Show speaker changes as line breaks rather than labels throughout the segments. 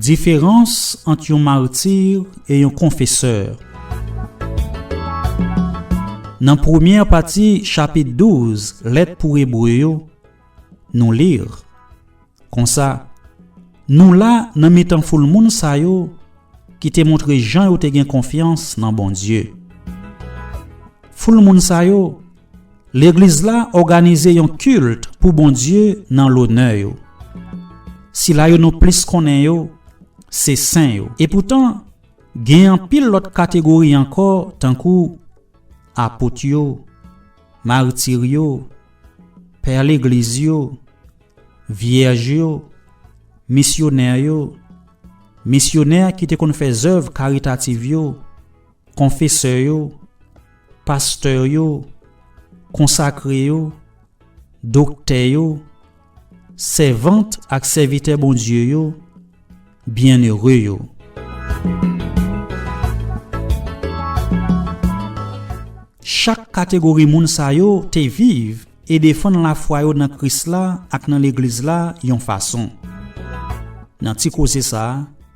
Diferans ant yon martir e yon konfesè Nan premyè pati chapit 12 Lèt pou Ebre yo, nou li, konsa, Nou la nan mitan foul moun sa yo ki te montre jan yo te gen konfyans nan Bondye. Foul moun sa yo Legliz la òganize yon kilt pou Bondye nan lonè yo. Sila yo nou plis konnen yo, se sen yo. Epoutan, gen anpil lòt kategori ankò tankou, Apot yo, Martir yo, Pè Legliz yo, Vyèj yo, Misyonè yo, Misyonè ki te konn fè zèv karitativ yo, Konfesè yo, pastè yo, konsakre yo, doktè yo, sèvant ak sèvitè Bondye yo, byennere yo. Chak kategori moun sa yo te viv e defann lafwa yo nan Kris la ak nan Legliz la yon fason. Nan ti koze sa a,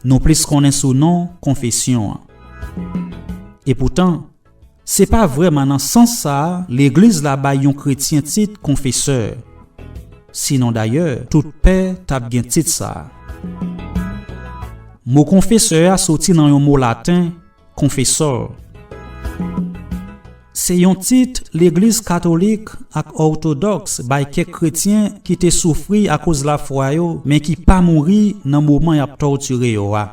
Nou plis konnen sou non Konfesyon an. Epoutan, se pa vrèman nan sans sa a Legliz la bay yon kretyen tit konfesè. Sinon dayè, tout pè t ap gen tit sa a. Mo konfesè a soti nan yon mo laten Konfesor Se yon tit legliz katolik ak òtodòks bay kèk kretyen ki te soufri akoz lafwa yo men ki pa mouri nan moman y ap tòtire yo a.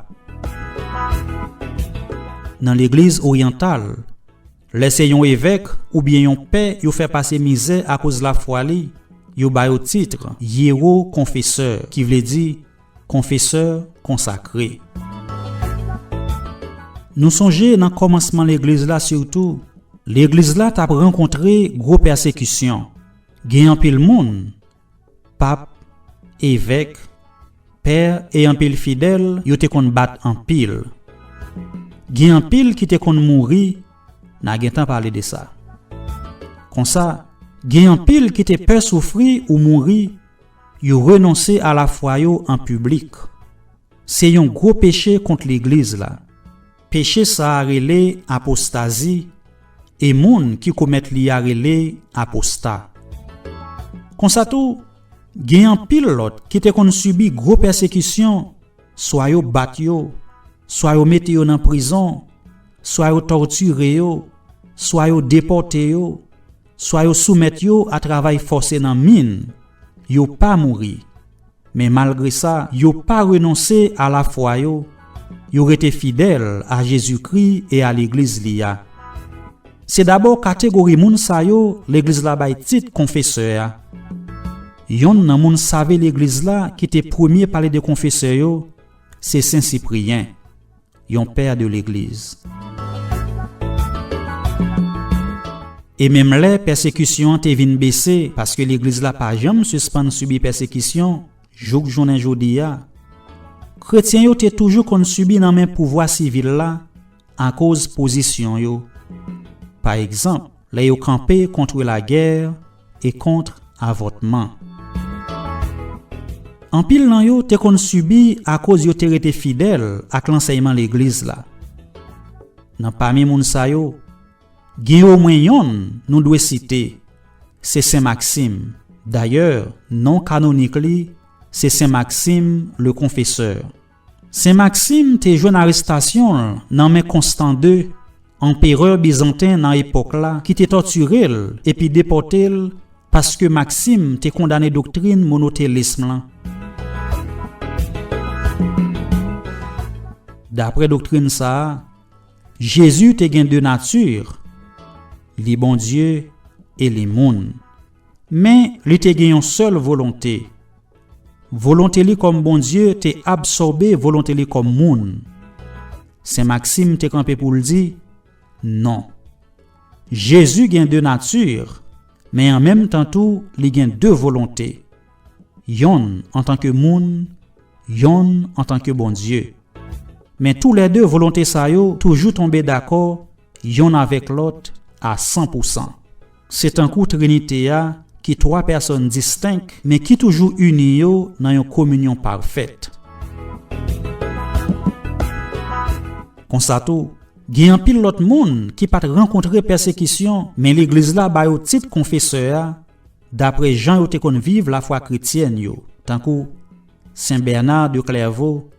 Nan legliz oryantal, lè se yon evèk oubyen yon pè yo fè pase mizè akoz lafwa li, yo ba yo titr Yero Konfesè ki vle di Konfesè konsakre. Nou sonje nan kòmansman legliz la sitou, legliz la t ap rankontre gwo pèsekisyon. Gen anpil moun, pap, evèk, pè e anpil fidèl yo te konn bat anpil. Gen anpil ki te konn mouri, n a gentan pale de sa. Konsa, gen anpil ki te pè soufri ou mouri. Yo renonse a lafwa yo an piblik. Se yon gwo peche kont Legliz la. Peche sa a rele apostazi e moun ki komèt li a rele aposta. Konsa tou, gen anpil lòt ki te konn sibi gwo pèsekisyon, swa yo bat yo, swa yo mete yo nan prizon, swa yo tòtire yo, swa yo depòte yo, Swa yo soumèt yo a travay fòse nan min, yo pa mouri. Men malgre sa, yo pa renonse a lafwa yo, yo rete fidèl a Jezikri e a Legliz Li a. Se dabò kategori moun sa yo Legliz la bay tit Konfesè a. Yonn nan moun save Legliz la ki te premye pale de Konfesè yo se Sen Sipriyen. Yon père de l'église. E menm lè pèsekisyon an te vin bese, paske legliz la pa janm sispann sibi pèsekisyon jouk jounen jodi a, kretyen yo te toujou konn sibi nan men pouvwa sivil la akoz pozisyon yo. Pa egzanp, lè yo kanpe kontre lagè, e kont avòtman. Anpil nan yo te konn sibi akoz yo te rete fidèl ak lansèyman Legliz la. Nan pami moun sa yo, gen omwen yonn nou dwe site, se Sen Maksim, dayè non kanonik li se Sen Maksim le Konfesè. Sen Maksim te jwenn arestasyon l nan men Konstan ii, anperè bizanten nan epòk la ki te tòtire l epi depòte l paske Maksim te kondane doktrin monotelism lan. Dapre doktrin sa a, Jezi te gen de nati, li Bondye e li moun. Men, li te gen yon sèl volonte. Volonte li kòm Bondye te absòbe volonte li kòm moun. Sen Maksim te kanpe pou l di, Non. Jezi gen de nati, men an menm tan tou li gen de volonte, yonn antanke moun, yonn antanke Bondye. Men toulède volonte sa yo toujou tonbe dakò yonn avèk lòt a san pou san. Se tankou Trinite a ki twa pèsòn distenk men ki toujou ini yo nan yon kominyon pafèt. Konsa tou, gen anpil lòt moun ki pa t rankontre pèsekisyon men legliz la ba yo tit konfesè a dapre jan yo te konn viv lafwa kretyèn yo, tankou Sen Bèna de Klèvo,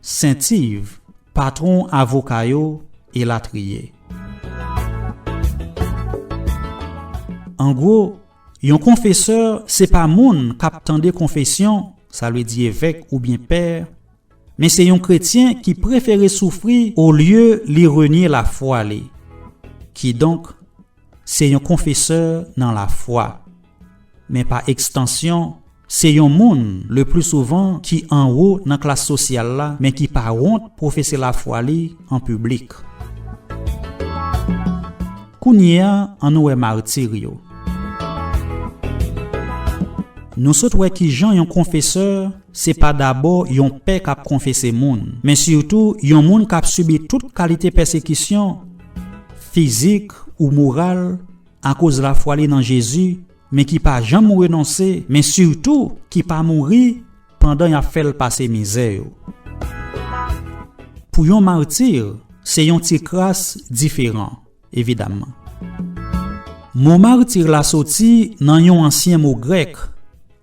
Sentiv, patwon avoka yo, elatriye. An gwo, yon konfesè se pa moun k ap tande konfesyon, sa vle di evèk oubyen pè, men se yon kretyen ki prefere soufri olye li renye lafwa li. Kidonk, se yon konfesè nan lafwa. Men pa ekstansyon, se yon moun, leplisouvan, ki anwo nan klas sosyal la men ki pa wont pwofese lafwa li an piblik. Kounye a, annou wè martir yo. Nou sot wè ki jan yon konfesè se pa dabò yon pè k ap konfese moun, men sitou yon moun k ap sibi tout kalite pèsekisyon, fizik ou moral, Akoz lafwa li nan Jezi, men ki pa janm renonse, men sitou ki pa mouri pandan y ap fè l pase mizè yo. Pou yon mati, se yon ti kras diferan, evidamman. Mo martir la soti nan yon ansyen mo grèk,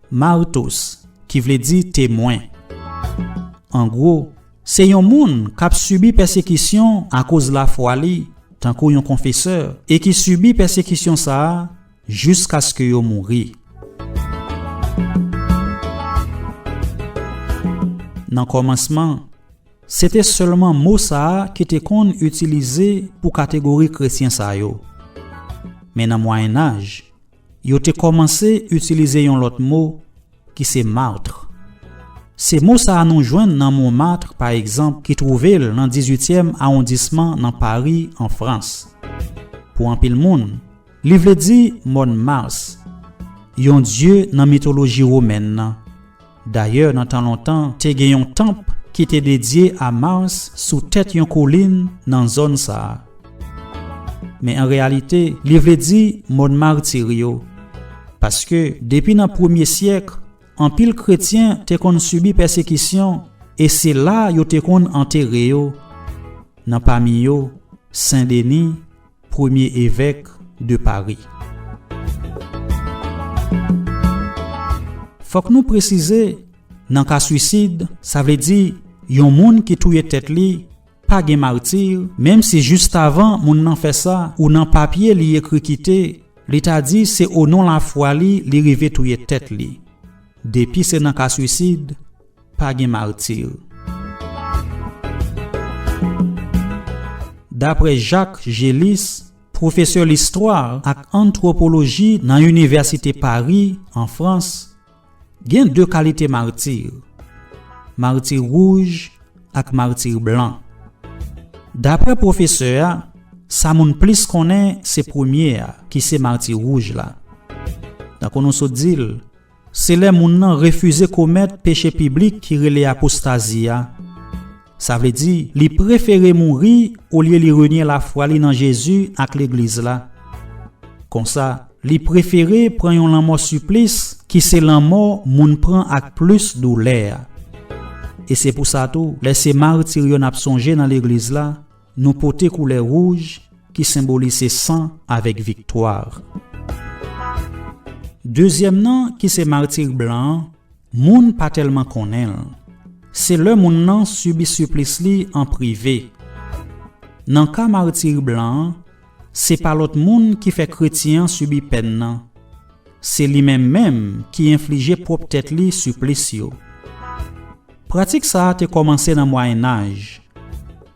martos, ki vle di temwen. Angwo, Se yon moun k ap sibi pèsekisyon akoz lafwa li, tankou yon konfesè, e ki sibi pèsekisyon sa a jiskaske yo mouri. Nan kòmansman, se te sèlman mo sa a ki te konn itilize pou kategori kretyen sa yo. Men nan Mwayennaj, Yo te kòmanse itilize yon lòt mo ki se martre. Se mo sa a nou jwenn nan Montmartre pa egzanp ki twouve l nan dizuityèm awondisman nan Pari an Frans. Pou anpil moun, li vle di mòn Mars, yon dye nan mitoloji womèn nan. Dayè nan tan lontan te gen yon tanp ki te dedye a Mars sou tèt yon kolin nan zòn sa a. Men an reyalite li vle di mòn martir yo, paske depi nan premye syèk anpil kretyen te konn sibi pèsekisyon e se la yo te konn antere yo, nan pami yo Sen Deni, Premye Evèk de Pari. Fòk nou presize, nan ka swisid, sa vle di yon moun ki touye tèt li, pa gen martir, menm si jistavan moun nan fè sa ou nan papye li ekri kite, li ta di se onon lafwa li li rive touye tèt li. Depi se nan ka swisid, Pa gen martir. Daprè Jacques Gélis, pwofesè listwa ak antwopoloji nan Inivèsite Pari, an Frans, gen de kalite martir, martir wouj ak martir blan. Daprè pwofesè a, sa moun plis konnen se premye a ki se martir wouj la. Tankou nou sot di l, Se lè moun nan refize komèt peche piblik ki rele apostazi a. Sa vle di, li prefere mouri olye li renye lafwa li nan Jezi ak Legliz la. Konsa, li prefere pran yon lanmò siplis ki se lanmò moun pran ak plis doulè a. E se pou sa tou, lè se martir yo n ap sonje nan Legliz la, Nou pote koulè wouj ki senbolise san avèk viktwa. Dezyèm nan ki se martir blan an, moun pa tèlman konnen l. Se lè moun nan sibi siplis li an prive. Nan ka martir blan an, se pa lòt moun ki fè kretyen an sibi pèn nan. Se li menm menm ki enflije pwòp tèt li siplis yo. Pratik sa a te kòmanse nan Mwayennaj,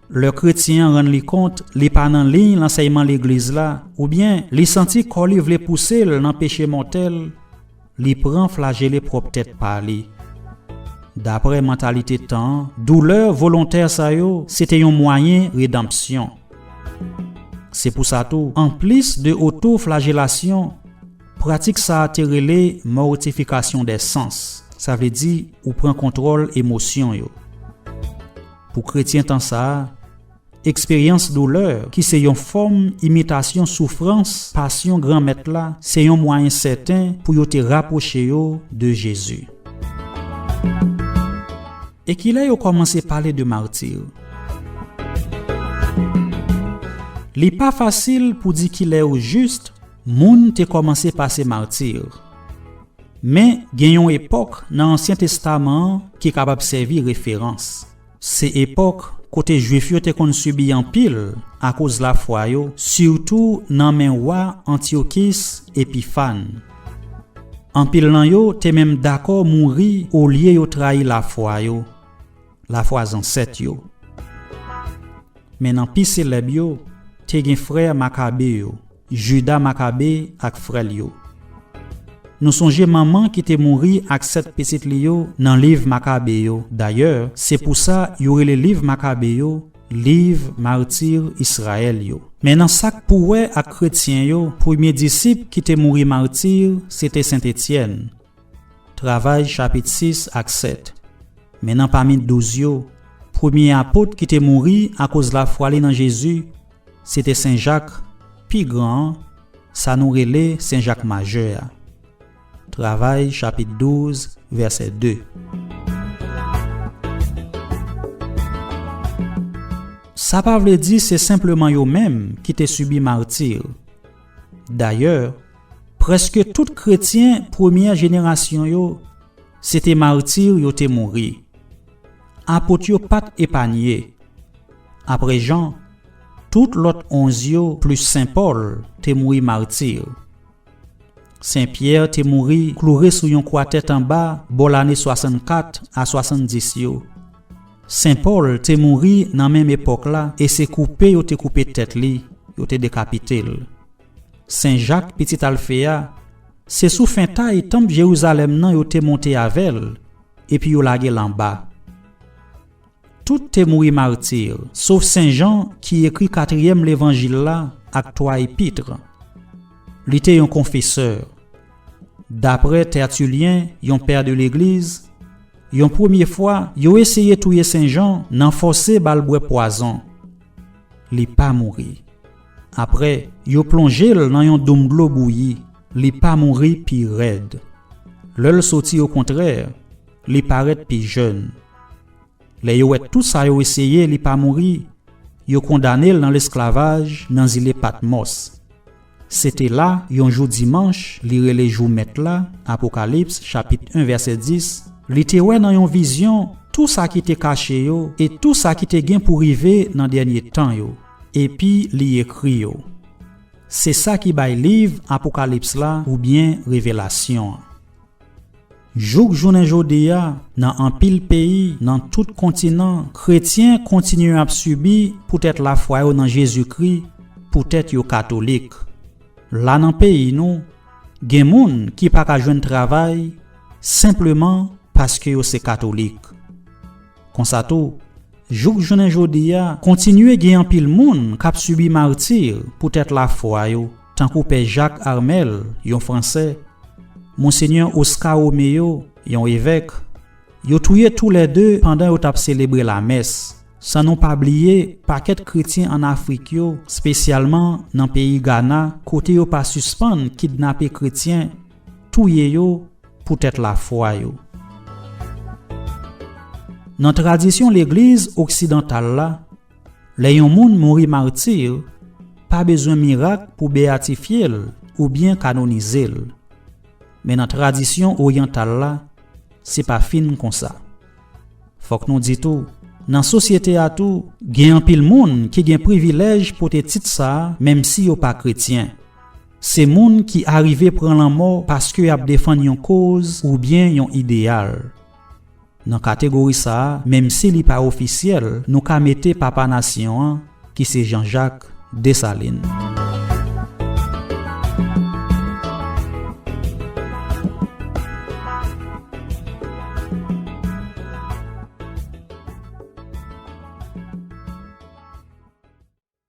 lè kretyen an rann li kont li pa nan liy lansèyman legliz la oubyen li santi kò li vle pouse l nan peche mòtèl, li pran flajele pwòp tèt pa li. Dapre mantalite tan an, doulè volontè sa yo se te yon mwayen redanpsyon. Se pou sa tou, anplis de otoflajelasyon, Pratik sa a te rele mortification des sens, sa vle di ou pran kontwòl emosyon yo. Pou kretyen tan sa a, eksperyans doulè, ki se yon fòm imitasyon soufrans pasyon Granmèt la, se yon mwayen sèten pou yo te rapwoche yo de Jezi. E ki lè yo kòmanse pale de mati? Li pa fasil pou di ki lè ojis Moun te kòmanse pase martir. Men, gen yon epòk nan Ansyen Testaman an ki kapab sèvi referans. Se epòk kote Juif yo te konn sibi anpil akoz lafwa yo, sitou nan men wa Antyokis Epifàn. Anpil nan yo te menm dakò mouri olye yo trayi lafwa yo. lafwa zansèt yo. Men nan pi selèb yo, te gen frè Makabe yo, Juda Makabe ak frè l yo. Nou sonje manman ki te mouri ak sèt pitit li yo nan liv Makabe yo, dayè, se pou sa yo rele liv Makabe yo liv mati Israël yo. Men nan sa k pou wè ak kretyen yo, premye disip ki te mouri mati se te Sent Etyèn. Travay chapit 6 ak 7 Men nan pami douz yo, premye apot ki te mouri akoz lafwa li nan Jezi, se te Sen Jak, pi gran an, sa nou rele Sen Jak Majè a. Travay chapit 12 vèsè 2 Sa pa vle di se senpleman yo menm ki te sibi marti. Dayè, prèske tout kretyen premyè jenerasyon yo se te mati yo te mouri. Apot yo pa t epanye. Apre Jan, tout lòt onz yo plis sen Pòl te mouri mati. Sen Pyè te mouri kloure sou yon kwa tèt anba bò lane 64 a 70 yo. Sen Pòl te mouri nan menm epòk la e se koupe yo te koupe tèt li, yo te dekapite l. Sen Jak, pitit Alfe a, se sou fentay tanp Jerizalèm nan yo te monte avè l epi yo lage l anba. Tout te mouri mati, sof Sen Jan ki ekri katriyèm levanjil la ak twa epitre. Li te yon konfesè. Daprè Tertullien, yon pè de legliz, yon premye fwa, yo eseye touye Sen Jan nan fòse ba l bwè pwazon. Li pa mouri. Aprè, yo plonje l nan yon doum dlo bouyi. Li pa mouri pi rèd. Lè l soti okontrè, li parèt pi jèn. Lè yo wè tout sa yo eseye li pa mouri, yo kondane l nan lesklavaj nan zile Patmòs. Se te la, yon jou dimanch, li rele jou Mèt la, Apokalips, chapit 1, vèsè 10, li te wè nan yon vizyon tou sa ki te kache yo e tou sa ki te gen pou rive nan dènye tan yo, epi li ekri yo. Se sa ki bay liv Apokalips la oubyen Revelasyon an. Jouk jounen jodi a, nan anpil peyi nan tout kontinan, kretyen kontinye ap sibi poutèt lafwa yo nan Jezikri, poutèt yo katolik. La nan peyi nou, gen moun ki pa ka jwenn travay senpleman paske yo se katolik. Konsa tou, jouk jounen jodi a, kontinye gen anpil moun k ap sibi marti poutèt lafwa yo tankou Pè Jacques Armel, yon Fransè, Monsenyè Oscar Romeo, yon evèk, yo touye tou lè de pandan yo t ap selebre lamès, san nou pa bliye pakèt kretyen ann Afrik yo, spesyalman nan peyi Gana kote yo pa sispann kidnape kretyen, touye yo poutèt lafwa yo. Nan tradisyon legliz oksidantal la, Lè yon moun mouri martir, pa bezwen mirak pou beyatifye l oubyen kanonize l. Men nan tradisyon oryantal la, se pa fin konsa. Fòk nou di tou, nan sosyete a tou, gen anpil moun ki gen privilèj pote tit sa a menmsi yo pa kretyen. Se moun ki arive pran lanmò paske y ap defann yon koz oubyen yon ideyal. Nan kategori sa a, menmsi li pa ofisyèl, nou ka mete papa nasyon an, ki se Janjak Desalin.